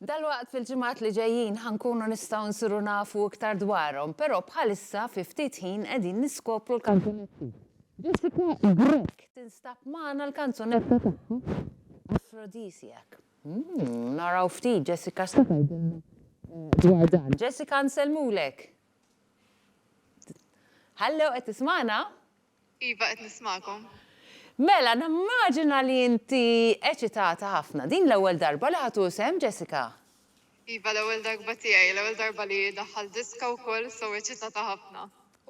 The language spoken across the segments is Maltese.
Dalwaqt fil-ġimgħat li ġejjin ħankunu nistgħu nsiru nafu iktar dwarhom, però bħalissa fi ftit ħin qegħdin niskopru l-kanzunetti. Jessica Grek tinstab magħna l-kanzunetta tagħha Aphrodisiac. Hmm, naraw ftit Jessica x'taqgħidilna eh, dwar dan. Jessica nsellmulek. Hallo, qed tismagħna? Iva, qed nismagħkom. Mela, nimmaġina li inti eċitata ħafna. Din l-ewwel darba li ħadd hu sehem, Jessica? Iva, l-ewwel darba tiegħi, l-ewwel darba li daħħal diska wkoll, so eċitata ħafna.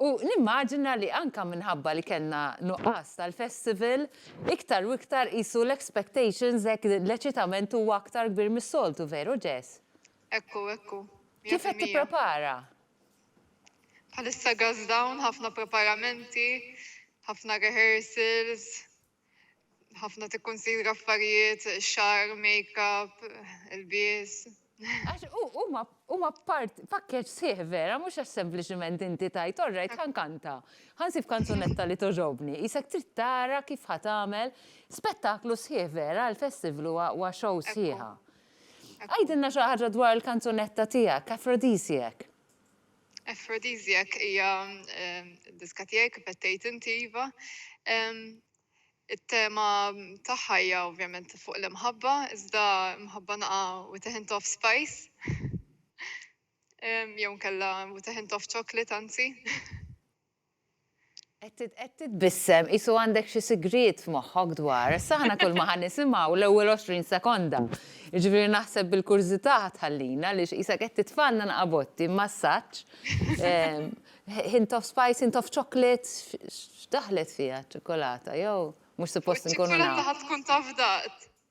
U nimmaġina li anke minħabba li kellna nuqqas tal-festival, iktar u iktar qisu l-expectations hekk l-eċitament huwa aktar kbir mis-soltu, veru Jess? Ekku, ekku. Kif qed tipprepara? Bħalissa gas down, ħafna preparamenti, ħafna rehearsals, ħafna tikkunsidra affarijiet, xar, make-up, ilbies. Għax huma part pakkeġġ sħiħ vera, mhux għax sempliċiment inti tajt orrejt ħankanta. Ħansib kanzunetta li toġobni, isek trid tara kif ħa tagħmel spettaklu sħiħ vera, l-festival huwa show sħiħa. Għidilna xi ħaġa dwar il-kanzunetta tiegħek, Aphrodisiac. Aphrodisiac hija diska tiegħi kif qed tgħid inti iva. It-tema tagħha hija ovvjament fuq l-imħabba, iżda imħabba naqa' with a hint of spice. Jew nkella with a hint of chocolate anzi. Qed titbissem qisu għandek xi sigriet f'moħħok dwar, sa aħna kulma ħa nisimgħu l-ewwel għoxrin sekonda. Jiġifieri naħseb bil-kurżità ħa tħallina għaliex qisek qed titfgħalna nqabotti massaġġ. Hint of spice, hint of chocolate, x'daħlet fiha ċ-ċokolata jew mhux suppost inkunu nafu. Iċ-ċokolata ħa tkun taf daqt.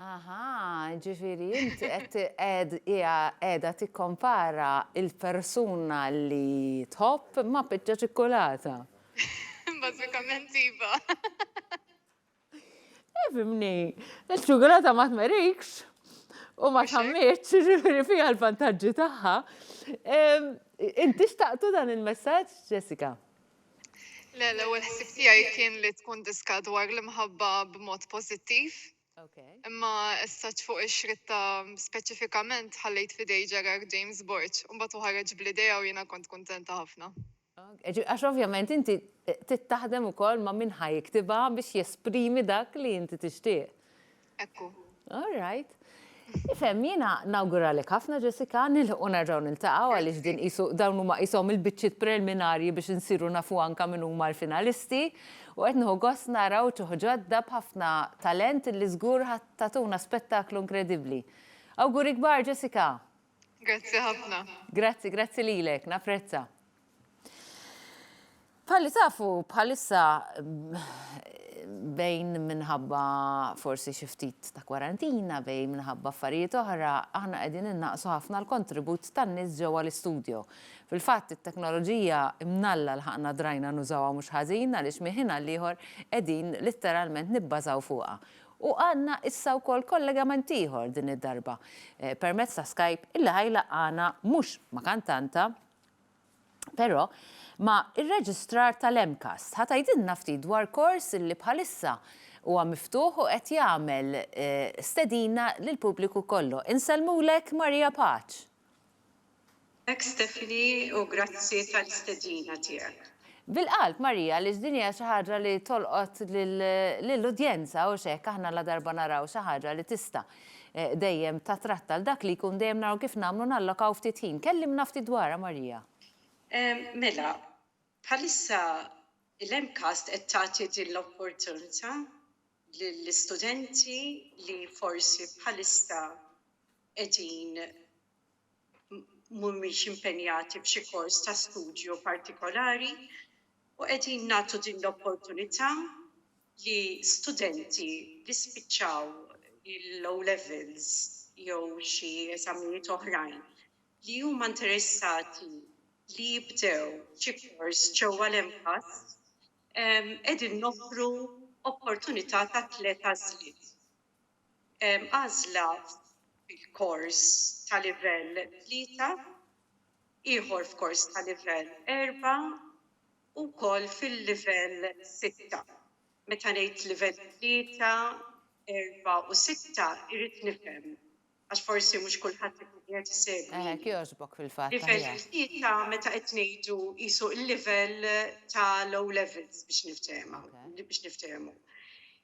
Aha, ġifiri, inti qed qed hija qiegħda tikkompara il-persuna li tħobb ma' biċċa ċikkulata. Bażikament iva. Ifhimni, iċ-ċukulata ma tmerikx u ma tħammiġx, jiġifieri fiha l-vantaġġi tagħha. Inti xtaqtu dan il-messaġġ, Jessica? Le, l-ewwel ħsieb tiegħi kien li tkun diska dwar l-imħabba b'mod pożittiv. Imma issa ċ-fuq ix-xritta speċifikament ħallejt f'idej Gerard James Borg u mbagħad hu ħareġ bl-idea u jiena kont kuntenta ħafna. Għax ovvjament inti trid taħdem ukoll ma' min ħa jiktibha biex jesprimi dak li inti tixtieq. Ekku. All right. Ifhem, jiena nawguralek ħafna Jessica, nilħqu nerġgħu niltaqgħu għaliex din qisu dawn huma qishom il-biċċiet preliminarji biex insiru nafu anke min huma l-finalisti u qed nieħu gost nara wċuħ ġodda b'ħafna talent li żgur ħa tagħtuna spettaklu inkredibbli. Awguri kbar Jessica! Grazzi ħafna. Grazzi, grazzi lilek, naprezza. Palli tafu bħalissa bejn minħabba forsi xi ftit ta' kwarantina, bejn minħabba affarijiet oħra, aħna qegħdin innaqsu ħafna l-kontribut tan-nies ġewwa l-istudio. Fil-fatt it-teknoloġija mnalla l-ħaqna drajna nużawha mhux ħażin għaliex miħina l-ieħor qegħdin litteralment nibbażaw fuqha. U għandna issa wkoll kollegament ieħor din id-darba permezz ta' Skype illi ħa jlaqqagħna mhux ma' kantanta però ma' ir-reġistrar tal-MCAST. Ħa tgħidilna ftit dwar kors illi bħalissa huwa miftuħ u qed jagħmel stedina lill-pubbliku kollu. Insellmulek Maria Paċ. Grazzi Stephanie u grazzi tal-istedina tiegħek. Bil-qalb Marija għaliex din hija xi ħaġa li tolqot lill-udjenza hux hekk aħna ladarba naraw xi ħaġa li tista' dejjem tattratta 'l dak li jkun dejjem naraw kif nagħmlu nallokaw ftit ħin. Kellimna ftit dwarha Marija. Mela, bħalissa l-MCAST qed tagħti din l-opportunità lill-istudenti li forsi bħalissa qegħdin mhumiex impenjati f'xi kors ta' studju partikolari u qegħdin nagħtu din l-opportunità li studenti li spiċċaw l-O-Levels jew xi eżamijiet oħrajn li huma interessati li jibdew xi kors ġewwa l-MPAST qegħdin noffru opportunità ta' tliet għażliet. għażla fil-kors ta' livell tlieta, ieħor f'kors ta' livell erba' u wkoll fil-livell sitta. Meta ngħid livell tlieta, erba' u sitta irrid nifhem għax forsi mhux kulħadd ikun qiegħed isegwini. Livell tlieta meta qed ngħidu qisu l-livell tal-O Levels biex niftehmu.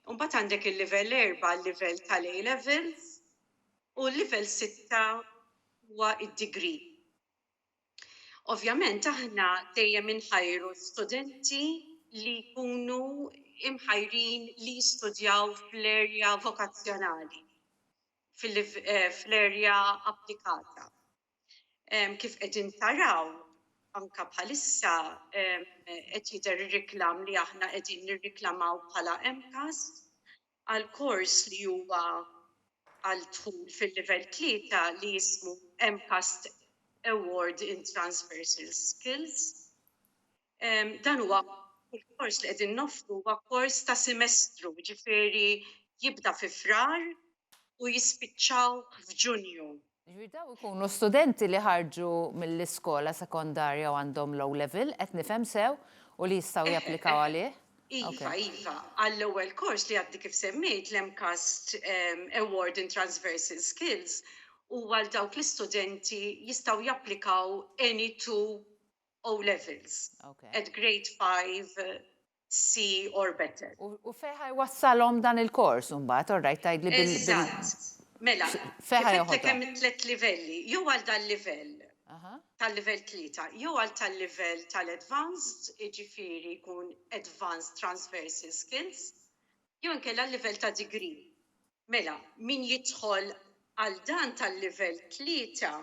U mbagħad għandek il-livell erba' l-livell tal-A Levels u l-livell sitta huwa d-degree. Ovvjament aħna dejjem inħajru studenti li jkunu imħajrin li jistudjaw fl-erja vokazzjonali, fl-erja applikata. Kif qegħdin taraw, anke bħalissa qed jidher ir-reklam li aħna qegħdin nirreklamaw bħala MCAS għal kors li huwa għal dħul fil-livell tlieta li jismu MCAS Award in Transversal Skills. Dan huwa il-kors li qegħdin noffru huwa kors ta' semestru, jiġifieri jibda fi Frar u jispiċċaw f'Ġunju. Jiġifieri dawn ikunu studenti li ħarġu mill-iskola sekondarja u għandhom l-O-Level, qed nifhem sew, u li jistgħu japplikaw għalih? Iva, iva. Għall-ewwel kors li għadni kif semmejt, l-MCAST Award in Transversal Skills, huwa għal dawk l-istudenti jistgħu japplikaw any two O levels. Okay. At grade 5 C or better. U feħa jwassalhom dan il-kors mbagħad, all right, tgħidli bil Eżatt. Mela, kifetlek hemm tliet livelli, jew għal dan livell tal-livell tlieta, jew għal tal-livell tal-advanced, jiġifieri jkun advanced transversal skills, jew inkella l-livell ta' degree. Mela, min jidħol għal dan tal-livell tlieta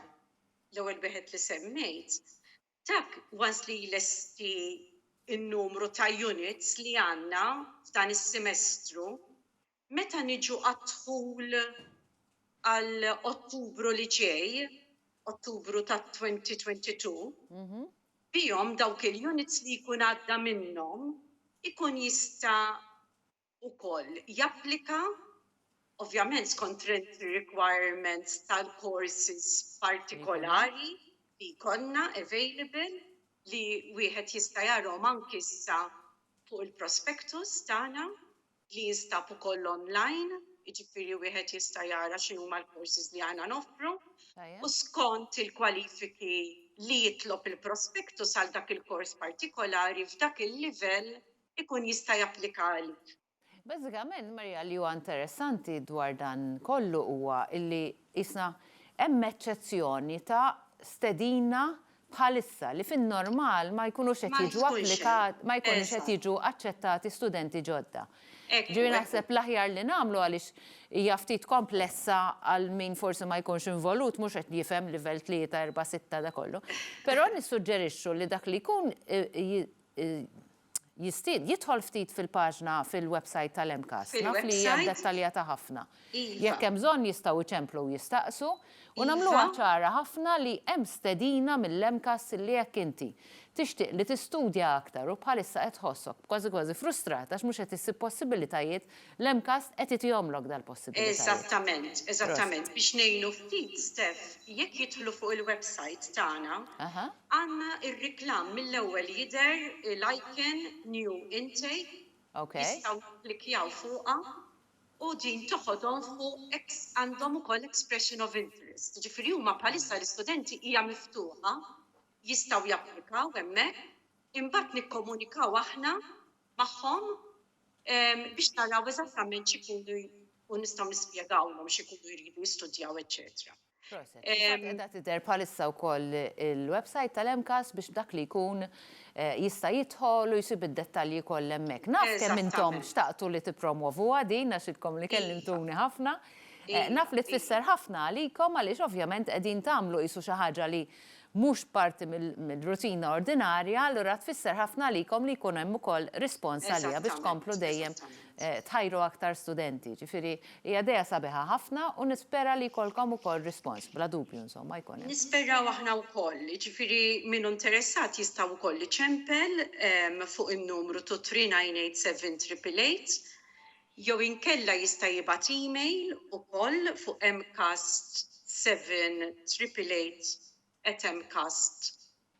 l-ewwel wieħed li semmejt, dak once li jlesti n-numru ta' units li għandna f'dan is-semestru, meta niġu għad-dħul għal Ottubru li ġej, Ottubru tat-2022, bihom dawk il-units li jkun għadda minnhom ikun jista' ukoll japplika, ovvjament skont ir-requirements tal-courses partikolari li jkollna available li wieħed jista' jarahom anki issa fuq il-prospectus tagħna li jinstab ukoll online, jiġifieri wieħed jista' jara x'inhuma l-courses li aħna noffru u skont il-kwalifiki li jitlob il-prospectus għal dak il-course partikolari f'dak il-livell ikun jista' japplika għalik. Bażikament, Maria, li huwa interessanti dwar dan kollu huwa li qisna hemm eċċezzjoni ta' stedina bħalissa li fin-normal ma jkunux qed jiġu applikati, ma jkunux qed jiġu aċċettati studenti ġodda. Ġifieri naħseb l-aħjar li nagħmlu għaliex hija ftit komplessa għal min forsi ma jkunx involut mhux qed jifhem livell tlieta, erba', sitta da kollu. Però nissuġġerixxu li dak li jkun jistid, jidħol ftit fil-paġna fil-websajt tal-MCAST. Naf li hija dettaljata ħafna. Jekk hemm bżonn jistgħu jċemplu u jistaqsu u nagħmluha ċara ħafna li hemm stedina mill-MCAST li jekk inti tixtieq li tistudja aktar u bħalissa qed tħossok kważi kważi frustrat għax mhux qed issib possibilitajiet L-MCAST qed itihomlok dal-possibilitajiet. Eżattament, eżattament. Biex ngħinu ftit, Steph, jekk jidħlu fuq il-websajt tagħna, għandna r-reklam mill-ewwel jidher l-icon New Intake, jistgħu jikklikkjaw fuqha u din toħodhom fuq għandhom ukoll expression of interest. Jiġifieri huma bħalissa għall-istudenti hija miftuħa, jistgħu japplikaw hemmhekk, imbagħad nikkomunikaw aħna magħhom biex naraw eżattament x'ikunu u nistgħu nispjegawlhom x'ikunu jridu jistudjaw eċċetera. Edha tidher bħalissa wkoll il-website tal-MCAS biex dak li jkun eh, jista' jidħol u jsib id-dettalji kollha hemmhekk. Naf kemm intom xtaqtu li tippromovuha din għax idkom li kellimtuni iva. ħafna. Eh, naf li tfisser ħafna għalikom għaliex ovvjament qegħdin tagħmlu qisu xi ħaġa li mhux parti mill-rutina ordinarja, allura tfisser ħafna għalikom li jkun hemm ukoll rispons għaliha biex tkomplu dejjem tħajru aktar studenti. Ġifieri hija idea sabiħa ħafna u nispera li jkollkom ukoll rispons, bla dubju insomma jkun hemm. Nisperaw aħna wkoll, jiġifieri min hu interessat jista' wkoll iċempel fuq in-numru 2388 triple eight jew inkella jista' jibgħat email ukoll fuq mcast seven triple eight at mcast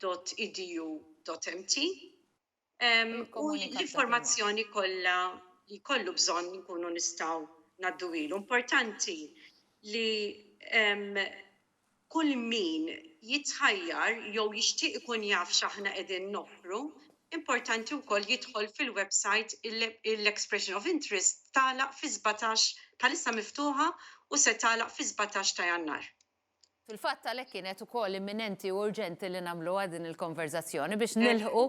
dot edu dot mt u l-informazzjoni kollha li jkollu bżonn inkunu nistgħu ngħadduhielu. Importanti li Kull min jitħajjar jew jixtieq ikun jaf x'aħna qegħdin noffru, importanti wkoll jidħol fil-websajt Il-expression of interest tagħlaq fis-sbatax bħalissa miftuħa u se tagħlaq fis-sbatax ta' Jannar. Fil-fatt għalhekk kienet ukoll imminenti u urġenti li nagħmluha din il-konverżazzjoni biex nilħqu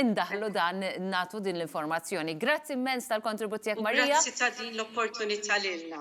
indaħħlu dan nagħtu din l-informazzjoni. Grazzi immens tal-kontribut tiegħek Maria. U grazzi ta' din l-opportunità lilna.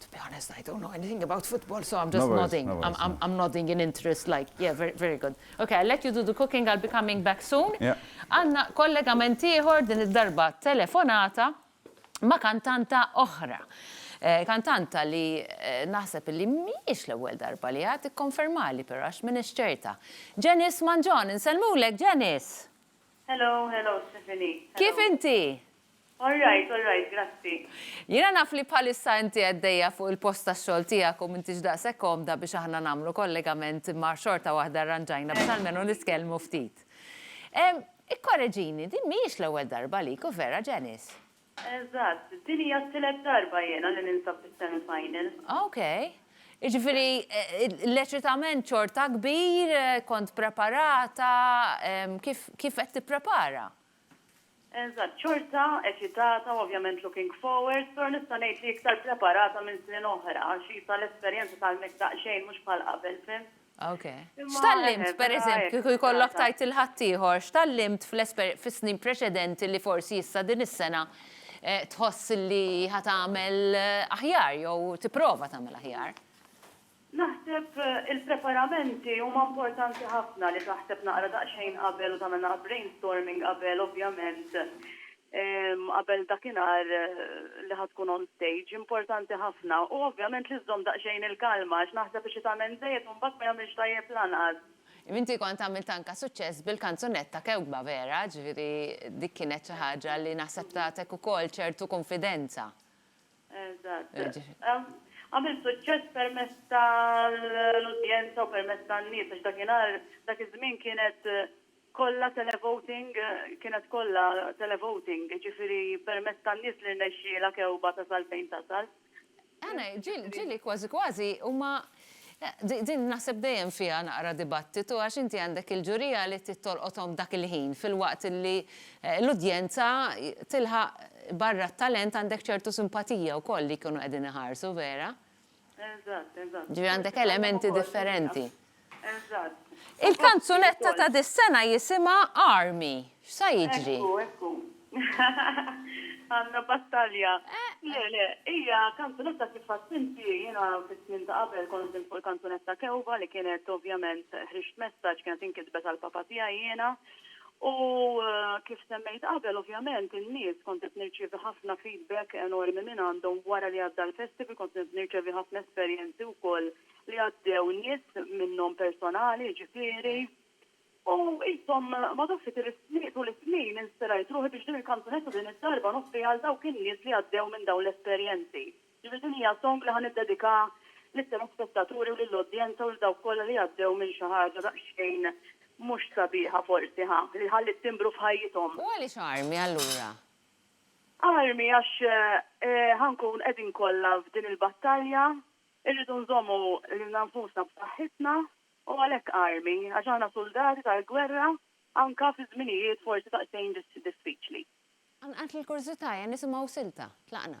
To be honest, I don't know anything about football, so I'm just no nodding. No I'm, I'm, I'm, nodding in interest, like, yeah, very, very good. Okay, I'll let you do the cooking, I'll be coming back soon. Għanna yeah. kollega mentiħor din id-darba telefonata ma kantanta oħra. Eh, kantanta li eh, naħseb li miex l-ewwel darba li għad ikkonfermali però għax minn ċerta. Janice Manġon, insellmulek Janice. Hello, hello Stephanie. Kif inti? All right, all right, grazzi. Jiena naf li bħalissa inti għeddejja fuq il-post tax-xogħol tiegħek u m'intix daqshekk komda biex aħna nagħmlu kollegament imma xorta waħda rranġajna biex almenu nitkellmu ftit. Ehm, ikkoreġini, din mhijiex l-ewwel darba għalik, u vera, Janice? Eżatt, din hija t-tielet darba jiena li ninsab fis-semi final. Ok. Jiġifieri l-eċitament xorta kbir, kont preparata, ehm, kif qed tipprepara? Eżatt, xorta eċitata u ovvjament looking forward, però nista' ngħid li iktar preparata minn snin oħra għax qisha l-esperjenza tgħallmek daqsxejn mhux bħal qabel, fhimt? Ok. X'tgħallimt, per eżempju, kieku jkollok tgħid lil ħaddieħor, x'tgħallimt fis-snin preċedenti li forsi issa din is-sena tħoss li ħa tagħmel aħjar jew tipprova tagħmel aħjar? Naħseb il-preparamenti huma importanti ħafna li taħseb naqra daqsxejn qabel u tagħmel naqra brainstorming qabel ovvjament qabel dakinhar li ħa tkun on stage. Importanti ħafna. U ovvjament li żżomm daqsxejn il-kalma għax naħseb li xi tagħmel żejjed u mbagħad ma jagħmilx tajjeb lanqas. Imma inti kont għamilt anke suċċess bil-kanzunetta Kewkba Vera, ġifieri dik kienet xi ħaġa li naħseb tagħtek ukoll ċertu kunfidenza. Eżatt. Għamil suċċess permezz tal-udjenza u permezz tan-nies għax dakinhar dak iż-żmien kienet kollha televoting, kienet kollha televoting, jiġifieri permezz tan-nies li rnexxielha Kewba tasal fejn tasal. Ġieli kważi kważi huma Din naħseb dejjem fiha naqra dibattitu għax inti għandek il-ġurija li trid tolqothom dak il-ħin filwaqt li l-udjenza tilħaq barra t-talent għandek ċertu simpatija wkoll li jkunu qegħdin iħarsu, vera? Eżatt, eżatt. Ġifieri għandek elementi differenti. Eżatt. Il-kanzunetta ta' dis-sena jisimha Army. X'sa jiġri? Ekku, ekku. Għandna battalja. Le, le, hija kanzunetta kif għedt inti, jiena fis-snin ta' qabel kont ħdimt fuq il-kanzunetta Kewba li kienet ovvjament ħriġt messaġġ, kienet inkitbet għall-papa tiegħi jiena. U kif semmejt qabel, ovvjament in-nies kont qed nirċievi ħafna feedback enormi minn għandhom wara li għadda l-festival, kont qed nirċevi ħafna esperjenzi wkoll li għaddew nies minnhom personali, jiġifieri. U intom ma tafx li tir-snin tul is-snin inspirajt ruħi biex din il-kanzunetta din id-darba noffriha għal dawk in-nies li għaddew minn dawn l-esperjenzi. Ġifieri din hija song li ħa niddedika lit-telespettaturi u lill-udjenza u lil dawk kollha li għaddew minn xi ħaġa daqsxejn mhux sabiħa forsi ħa, li ħalliet timbru f'ħajjithom. U għaliex armi allura? Armi għax ħa nkun qegħdin kollha f'din il-battalja, irridu nżommu lilna nfusna b'saħħitna U għalhekk armi, għax aħna suldati tal-gwerra anka fi żminijiet forsi daqsxejn diffiċli. Qanqalt l-kurżità, ejja nisimgħu silta. Tlaqna.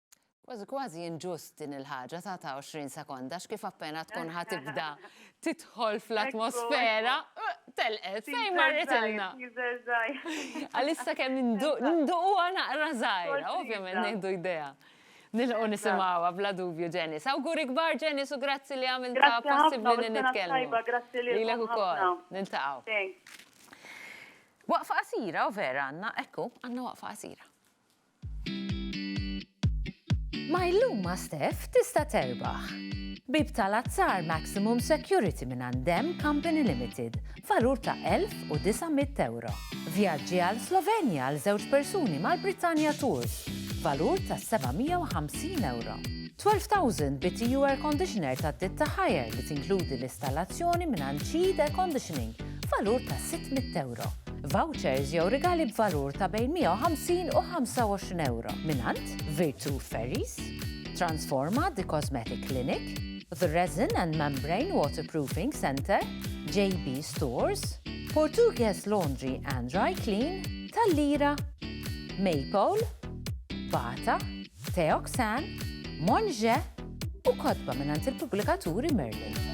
Kważi kważi inġust din il-ħaġa ta' ta' 20 sekonda x'kif appena tkun ħa tibda tidħol fl-atmosfera telqet fejn marret ilna. Għalissa kemm nduquha naqra żgħira, ovvjament nieħdu idea. Nilqu nisimgħuha bla dubju Ġenis. Awguri kbar Ġenis u grazzi li għamilta possibbli li nitkellmu. Lilek ukoll. Niltaqgħu. Waqfa qasira u vera għandna, ekku, għandna waqfa qasira. Ma' illum ma' Steph tista' terbaħ! Bieb tal-azzar Maximum Security mingħand Dem Company Limited b'valur ta' €1,900. Vjaġġi għal Slovenja għal żewġ persuni mal-Britannia Tours b'valur ta' €750. 12,000 BTU Air Conditioner tad-ditta Haier li tinkludi l-istallazzjoni mingħand Cheed Air Conditioning b'valur ta' €600. vouchers jew rigali b'valur ta' bejn 150 u 25 ewro mingħand Virtu Ferries, Transforma The Cosmetic Clinic, The Resin and Membrane Waterproofing Centre, JB Stores, Portuguese Laundry and Dry Clean, Tallira, Maypole, Bata, Teoxan, Monge u kotba mingħand il-pubblikaturi Merlin.